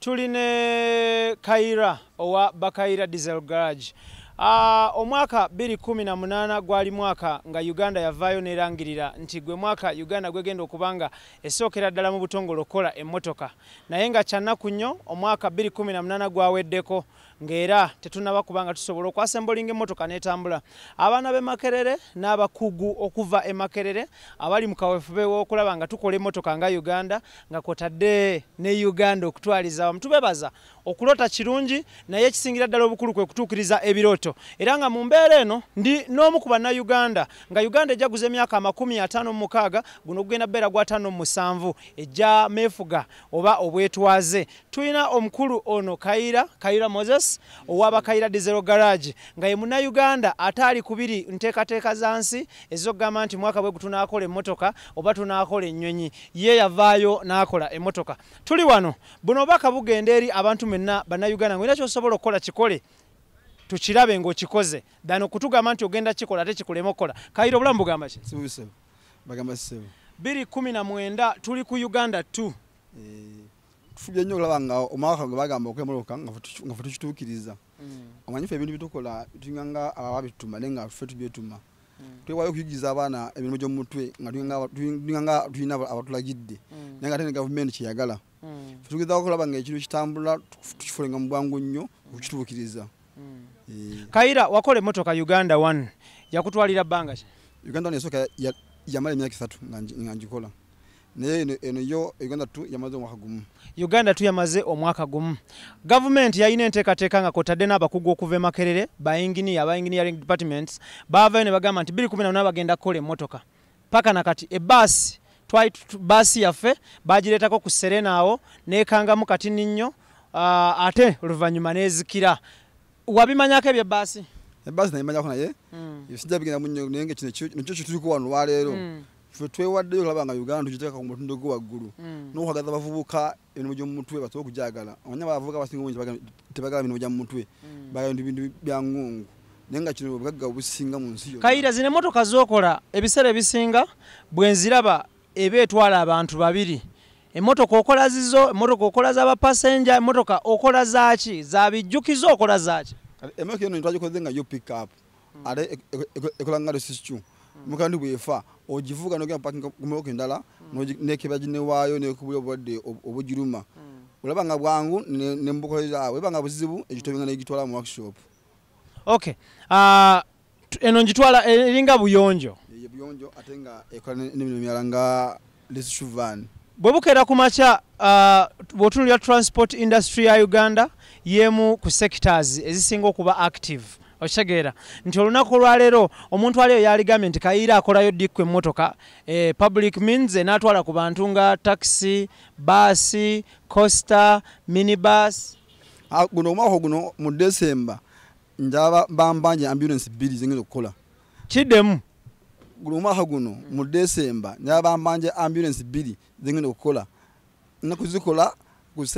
tuli ne kaira owa bakaira diesel garage Uh, omwaka 218 gwali mwaka nga uganda yavaayo nerangirira nti gwe mwaka uganda gwegenda okuba nga esookera ddala mu butongole okukola emmotoka naye nga kyannaku nnyo omwaka 218 gwaweddeko ng'era tetunaba kuba nga tusobola okwasembolinga emmotoka n'etambula abaana b'e makerere n'abakugu okuva e makerere abali mu kawefube w'okulaba nga tukola emmotoka nga uganda nga kwotadde ne uganda okutwaliza awamu tubebaza okulota kirungi naye ekisingira ddala obukulu kwe kutuukiriza ebirooto era nga mu mbeera eno ndi n'omu ku bannayuganda nga uganda ejja guza emyaka amakumi ataano mu mukaaga guno ogugenda beera gwataano mu musanvu ejja meefuga oba obwetwaze tulina omukulu ono kayira kayira moses owaba kayira dizero garage nga ye munauganda ataali kubiri nteekateeka za nsi ezokugamba nti mwaka bwe gutunaakola emmotoka oba tunaakola ennyonyi ye yavaayo n'akola emmotoka tuli wano buno obaka bugenda eri abantu mwenna bannayuganda ngaolina kyosobola okukola kikole tukirabe ngaokikoze than okutugamba nti ogenda kikola ate kikulema okukola kayira obulamu bugamba ki biri kumi na mwenda tuli ku uganda t eh. tufubye nnyo okulaba nga omwaka gwe bagamba okwemoloka nga fe tukituukiriza mm. omanyi fe ebintu byetukola tulinga nga ababituma naye nga fe tubyetuma mm. twewayo okuyigiza abaana emirimu gyomumutwe nga tulinga nga tulina abatulagidde mm. naye nga ate ne gavumenti kyeyagala fe tugezako okulaba nga ekintu kitambula tukifulenga mu bwangu nnyo okukituukiriza eh. kayira wakola emotoka uganda one yakutwalira bbanga uganda one esooka yamala emyaka esatu nga ngikola naye eno, eno yo uganda tu yamaze omwaka gumu uganda tu yamaze omwaka gumu gavumenti yalina enteekateeka nga kwotadde n'abakugu okuva emakerere bainginiya aba engineering departments baavayo ne bagamba nti biri kumi nabona bagenda kukola emmotoka paka na kati ebaasi twali baasi yaffe bagireetako ku serena awo nekangamu kati ninnyo ah, ate oluvannyuma nezikira wabimanyako ebye baasi ebaasi nayimanyako naye hmm. sijabigenda munyo naye nga kino kyo kyetuli kuwano lwaleero hmm. ffe twewaddeyo olaba nga uganda tugiteeka ku mutindo gwe waggulu mm. n'okwagaza abavubuka emirimu gy'omu mutwe basobola okugyagala omanya abavubuka abasinga obungi tebagala mirimu gya mu mutwe mm. bagala bintu bintu bya ngungu naye nga kino obugagga obusinga mu nsi kayira zino emmotoka z'okola ebiseera ebisinga bwe nziraba eba etwala abantu babiri emmotoka okola zizo emmotoka okola za bapasenja emmotoka okola zaaki za bijjukizo okola zaaki emmotoka eno twagikoze nga yo pickup hmm. ate e, e, e, ekola nga lesiscu hmm. mukandi bwefa ogivuga nogenda pakinga kumooka endala hmm. nekeba ginewaayo nekubula obulwadde obugiruma olaba nga bwangu nembukolezaawe eba nga buzibu egitobinga negitwala mu workshop ok ah, eno ngitwala eringa buyonjo buyonjo ate nga ekola nemirimo mirala nga bwe bukeera ku makya uh, bw'otunulira transport industry ya uganda y'emu ku sectors ezisinga okuba active okitegeera nti olunaku olwaleero omuntu aliyo yaligambye nti kayiira akolayo dikku emmotoka eh, public means enaatwala ku bantu nga taxi baasi costa minibus ah, guno omwaka guno mu december njaba bambanje ambulance bbiri zengenda okukola kidemu guno omwaka guno mu desemba nabambanja ambulance bbiri zengenda okukola nna kuzikola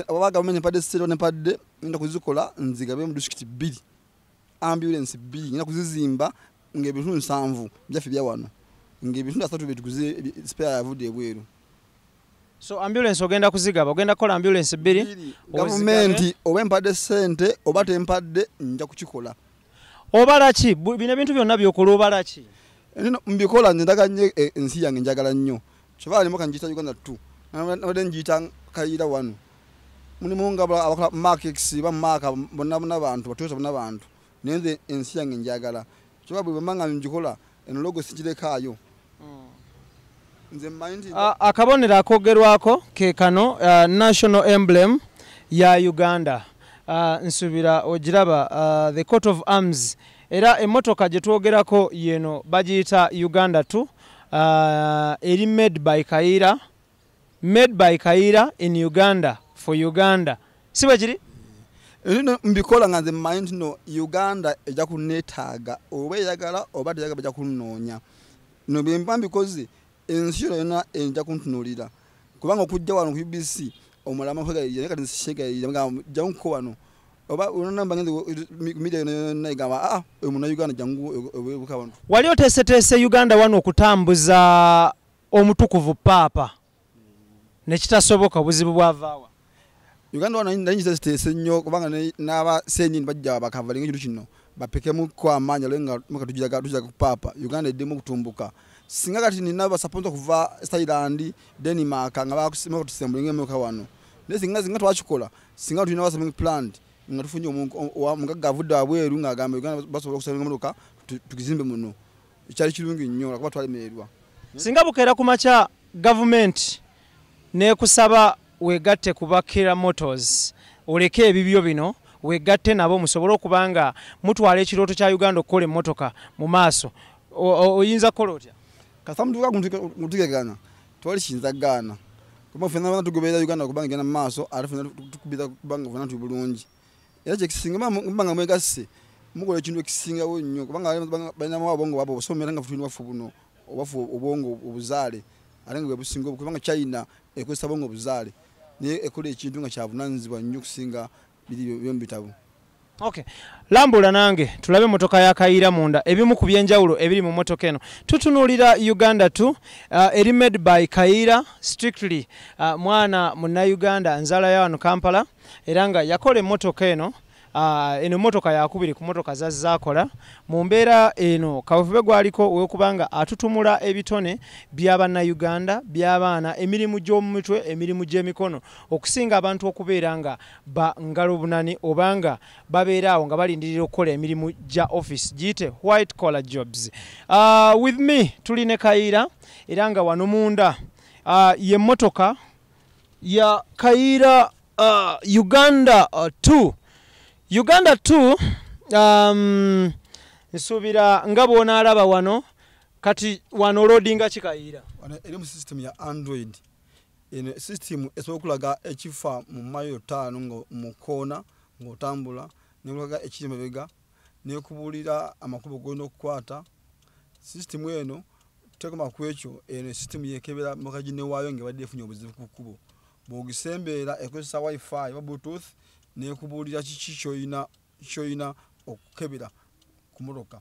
oba gavumenti empadde sente nempadde ngenda kuzikola nzigabe mu disitulikiti bbiri ambulance bbiri ngenda kuzizimba ngaebitundu nsanvu byaffe byawano ngaebitundu asatu byetuguze sipera yavudde ebweru so ambulance ogenda kuzigaba ogenda kukola ambulance bbiri gavumenti oba empadde sente oba tempadde nja kukikola obala ki bino ebintu byonna byokola obala ki mbikola nze ndaga nyo eh, ensi yange njagala nnyo kyova alimu kanjita uganda t nabadde njiyita kayira wano mulimu nga abakola markex ba maaka bonna bonna bantu batuusa bonna bantu naye nze ensi yange njagala kyoba bwe bamba nga njikola eno logo sigirekaayo akabonero akogerwako ke kano uh, national emblem ya uganda uh, nsubira ogiraba uh, the court of arms era emotoka gye twogerako yeno bagiyita uganda t eri made by kayiira made by kayiira in uganda for uganda si bwe kiri Nino mbikola nga nze mmanyi nti no uganda ejja kunneetaaga oba eyagala oba teyagala bajja kunnoonya no bye mba mbikoze ensi yona yona ejja kuntunuulira kubanga okujja wano ku ubc omulama kwegayirira naye kati nsikyegayirira mugamba jja nkuko wano oba olona mba ngenze midia yona yona egamba aa ah, oyo muna uganda jangu ebuka wano wali oteeseteese uganda wano okutambuza omutukuvu paapa nekitasoboka obuzibu bwavaawa uganda wano naye nyiza ziteese nnyo kubanga n'abasenyin bajja bakavalinga ekintu kino bapekemu ko amaanyi ale nga muka tujaga tujaga kupaapa uganda eddemu okutumbuka singa kati nina basaponsa okuva thailand denmark nga bakusimaka tusembulinga emyoka wano naye singa zinga twakikola singa tulina wasaming plant nga tufunye omugagga avudde wabweru ng'agamba uganda basobola okusaminga emotoka tukizimbe muno ekyali kirungi nnyo lwakuba twalemererwa singa bukeera ku makya gavumenti nekusaba wegatte ku bakira motors oleke ebibyo bino wegatte nabo musobole okuba nga mutwala ekirooto kya uganda okukola emmotoka mu maaso oyinza kukola otya kasamutukagutugegaana twali kiyinza gaana kuba fena bana tugoberera uganda kubanga igenda mu maaso ate fena tukubira kubanga fena tuli bulungi era kyekisinga muba nga mwegasse mukola ekintu ekisingawo nnyo kubanga balinamu abongo baba obusoma era nga futulina baffe buno obaffe obwongo obuzaale ate nga bwebusinga kubanga china ekozesa bongo obuzaale naye ekola ekintu nga kyavunanyizibwa nnyo okusinga biri byomu bitabo Okay. Lambula nange tulabe motoka ya Kayira munda ebimu ku byenjawulo ebiri mu motoka eno. Tutunuulira Uganda tu uh, eri made by Kayira strictly uh, mwana munna Uganda nzala ya wano Kampala. era nga yakola emmotoka eno Ah, eno motoka yakubiri ku motoka zazzakola mu mbeera eno kawefube gwaliko wekubanga atutumula ebitone byabannayuganda byabaana emirimu gy'omumitwe emirimu gy'emikono okusinga abantu okubeera nga bangalobunani obanga babeeraawo nga balindirira okukola emirimu gya office giyite white collar jobs uh, with me tuli ne kayiira era nga wano munda uh, ye motoka ya kayiira uh, uganda 2 uh, uganda 2 um, nsuubira nga bwonaalaba wano kati wano olodinga kikayiira eri mu system ya android eno system esobola okulaga ekifa mu mayo taano nga mukoona ngaotambula nekulaga ekiri mabega nekubuulira amakubo golina okukwata sisitimu eno tekoma ku ekyo eno sisitimu yekebera moka ginewaayo nga ebadde efunye obuzibu ku kkubo bwogisembeera ekozesa wifi oba bluetooth nekubuulira kiki kyoyina kyoyina okukebera ku motoka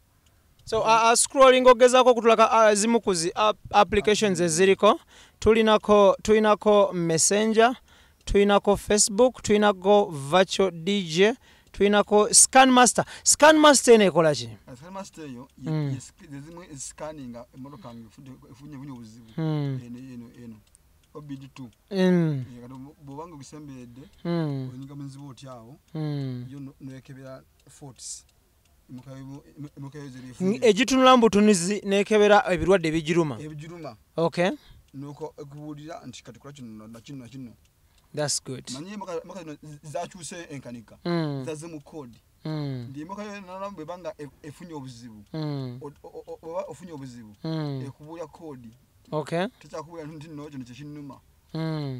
so uh, uh, scrolling ogezako okutulaka uh, zimu ku zi applications eziriko tulinako tulinako messenger tulinako facebook tulinako virtual dj tulinako scan master scan master eno ekola ki bwobanga ogisemberedde onyinga muzibu otyawo yo nekebera forts egitunula mu butunuzi nekebera ebirwadde ebigiruma ok nuko ekubuulira nti kati kola kino nakino nakino thats good manye emaka zino zakyuse enkanika mm. zaze mu kodi mm. ndi emaka yonalamu bwebanga e, efunye obuzibu mm. oba ofunye obuzibu ekubuulira kodi ok tekyakubuulira nti nno kino kyekinuma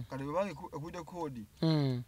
kati bwebanga ekubuulira kodi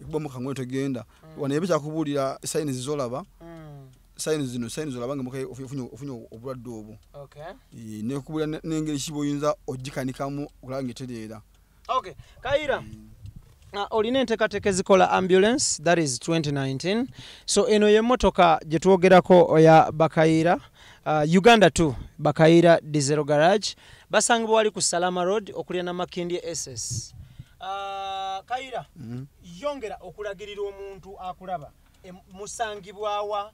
ekuba mm. mukangoyo tegenda mm. wano ebe kyakubuulira sayini zizolaba mm. sayini zino sayini zolaba nga mukaye ofunye obulwadde obwo nekubuulira nengeri kiba oyinza ogikanikamu okulaba nga etereera kayira ah, olina enteekateeka ezikola ambulance that is 2019 so eno yemotoka gyetwogerako oya bakayiira uh, uganda 2 bakayiira dizero garage basangibwa wali ku salama road okulya namakindye ss Ah, kayira mm. yongera okulagirira omuntu akulaba musangibwawa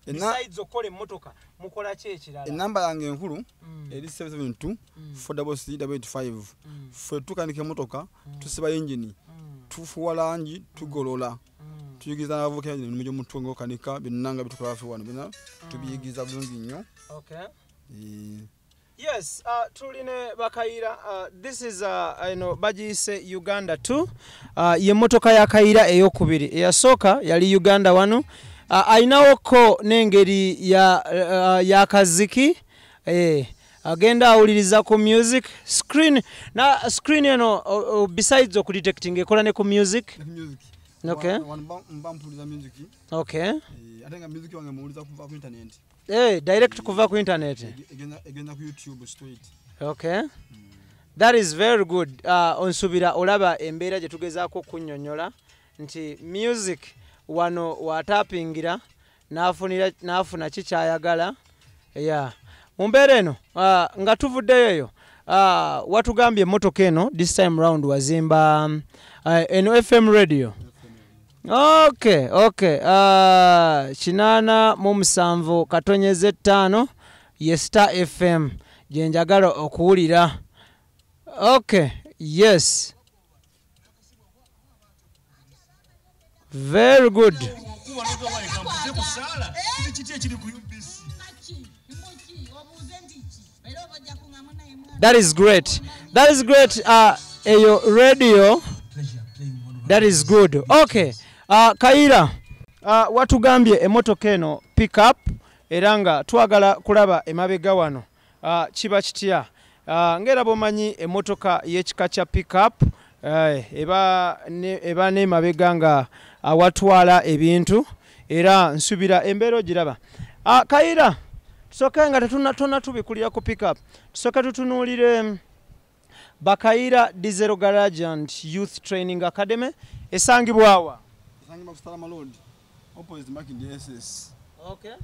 besides okukola emmotoka mukola ki ekirala enamba yange enkulu mm. eri 772 4w85 fe tukanika emmotoka mm. tusiba yingini tufuwa langi tugolola tuyigiriza n'abavubuka yingini emimu gy'omutwe ngaokanika byenanga bitukola fe wano byona tubiyigiriza bulungi nnyo eh. Yes, uh, tuline bakayira uh, this is uh, you know, bagiyise Uganda 2 uh, ye motoka ya kayira eyokubiri eyasooka yali Uganda wano uh, ayinawoko n'engeri ya, uh, ya kaziki eh, agenda awuliriza ku music screen na screen eno uh, uh, besides okudetecting ekola ne ku music, music. Okay. Wa, wa, mba, mba music. Okay. Eh, atenga music wange muwuliza kuva ku internet. Eh, direct kuva ku internet. Egenda ku YouTube straight. Okay. Mm. That is very good. Uh, onsubira olaba embeera gye tugezaako okunyonyola nti music wano watapingira n'afuna ki kyayagala yeah. mu mbeera eno uh, nga tuvuddeyo eyo uh, watugambye emmotoka eno this time round wazimba uh, eno fm radio Okay, okay. Uh, kinaana mu musanvu katonyeza ettaano ye Star FM gye njagala okuwulira. Okay, yes. Very good. Hey! that is great that is great uh, eyo radio that is good okay uh, kayira uh, watugambye emotoka eno pick up era nga twagala kulaba emabega wano uh, kiba kitya uh, ngaera bwomanyi emotoka yekika kya pick up Eh, eba ne, eba ne mabega nga awatwala ebintu era nsubira embeera ogiraba ah, kayira tusoke nga tetunatona tubikulira ku pickup tusoke tutunuulire bakayira dizero garage and youth training academy esangibwawa esangibwa ku stalama road opposite making the ss okay. yeah.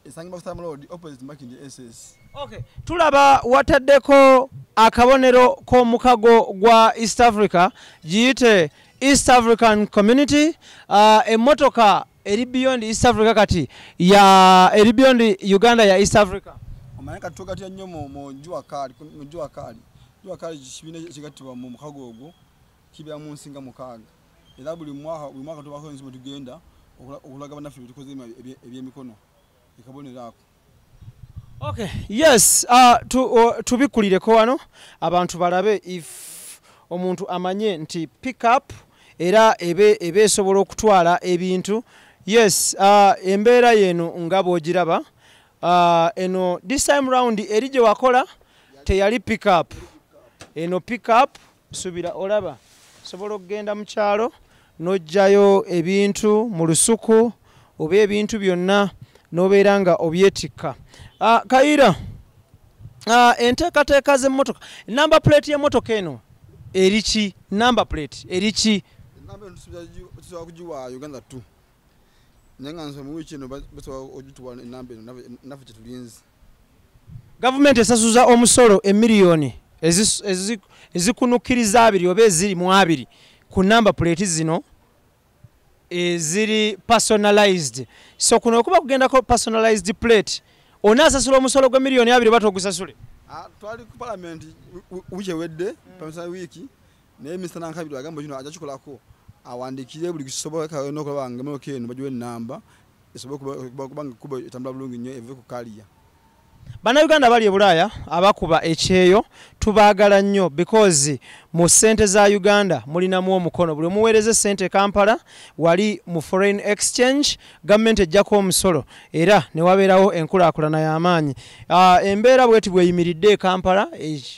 esangibwa Sam Road opposite Makindye SS. Okay, tulaba wataddeko akabonero k'omukago gwa East Africa giyite East African Community uh, emmotoka eri beyond East Africa kati ya eri beyond Uganda ya East Africa. Omanyi kati tugatira nnyo mu jua kali mu jua kali jua kali kibiina kigattibwa mu mukago ogwo kibeera mu nsi nga mukaaga era buli mwaka buli mwaka tubaako ensi mwe tugenda okulaga bannaffe bye tukoze ebyemikono ekabonero ako okay yes uh, tu, uh, tubikkulireko wano abantu balabe if omuntu amanye nti pick up era ebe ebe esobola okutwala ebintu yes uh, embeera yeno nga bwogiraba uh, eno this time round eri gye wakola teyali pick up eno pick up subira olaba sobola okugenda mu kyalo n'oggyayo ebintu mu lusuku oba ebintu byonna n'obeera nga obyetikka ah, kayira ah, enteekateeka z'emmotoka namba puleeti y'emmotoka eno eri ki namba puleeti eri ki tusobola kugiwa uganda t naye nga nsobola mu wiiki eno basobola ogituwa enamba eno nafe kyetulinzi gavumenti esasuza omusolo emiliyoni ezikunukkiriza abiri oba eziri mu abiri ku namba puleeti zino eziri personalized so kuno okuba kugendako personalized plate onaasasula omusolo gwe miliyoni abiri oba togusasule ah, twali ku palamenti wiiki ewedde hmm. pamisa wiiki naye minisita nankabiri agamba kino aja kikolako awandikire buli kisoboka nokulaba nga emotoka eno bagiwa enamba kubanga kuba etambula bulungi nnyo eve ku kaliya bannayuganda bali e bulaaya abakuba ekyeyo tubaagala nnyo because mu ssente za uganda mulinamu omukono buli omuweereza essente e kampala wali mu foreign exchange gavumenti ejjako omusolo era ne wabeerawo enkulaakulana y'amaanyi ah, embeera bweti bweyimiridde e kampala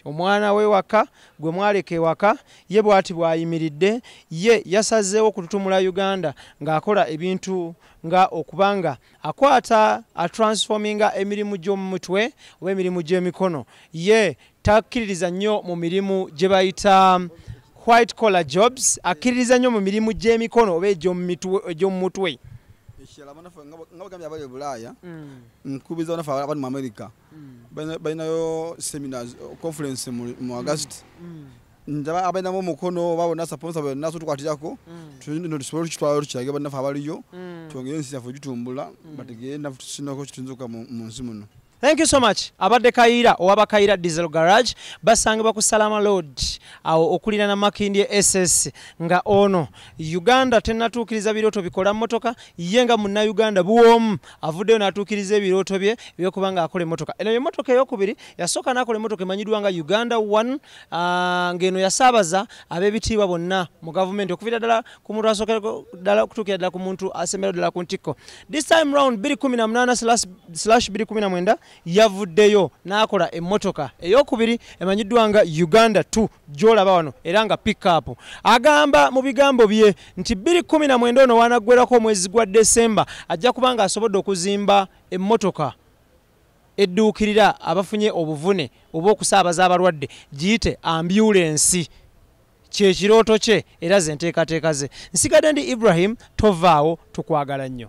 omwana we waka gwe mwaleka ewaka Ye bwati bw'ayimiridde ye yasazeewo okututumula Uganda ng'akola ebintu nga okuba nga akwata atransforminga emirimu gy'omu mutwe oba emirimu gy'emikono ye takkiririza nnyo mu mirimu gye bayita white collar jobs akkiririza nnyo mu mirimu gy'emikono oba egy'omu mutwe ekirala banafe nga bagambye abali ebulaaya mm. nkubiza banafe abali mu amerika mm. balinayo seminars conference mu mm. agasti mm. ndaba abalinamu omukono oba bona saponsa bona sotukwatirako tulino tusobole okukitwala tukirage bannaffe abaliyo twongere ensi yaffe ogitumbula bategere naffe tusinako kitunzuka mu nsi muno thank you so much abadde kayira owaba kayira diesel garage basangibwa ku salama lord awo okulira na makindi ss nga ono uganda tenatuukiriza birooto bikola motoka ye nga munnauganda buwomu avuddeyo n'atuukiriza ebirooto bye ebyokuba nga akola emotoka eno yemotoka eyokubiri yasooka n'akola emotoka emanyiddwa nga uganda one ah, ng'eno yasaabaza ab'ebitiibwa bonna mu gavumenti okuvira ddala ku muntu asookera ddala okutuukira ddala ku muntu asembera ddala ku ntikko this time round 218 slash 219 yavuddeyo n'akola emmotoka eyokubiri emanyiddwa nga uganda 2 gyolaba wano era nga pickup agamba mu bigambo bye nti 219 ono wanaggwerako omwezi gwa desemba ajja kuba nga asobodde okuzimba emmotoka edduukirira abafunye obuvune oba okusaabaza abalwadde giyite ambyulensi kyekirooto kye era ze nteekateeka ze nsigadde ndi ibrahim tovaawo tukwagala nnyo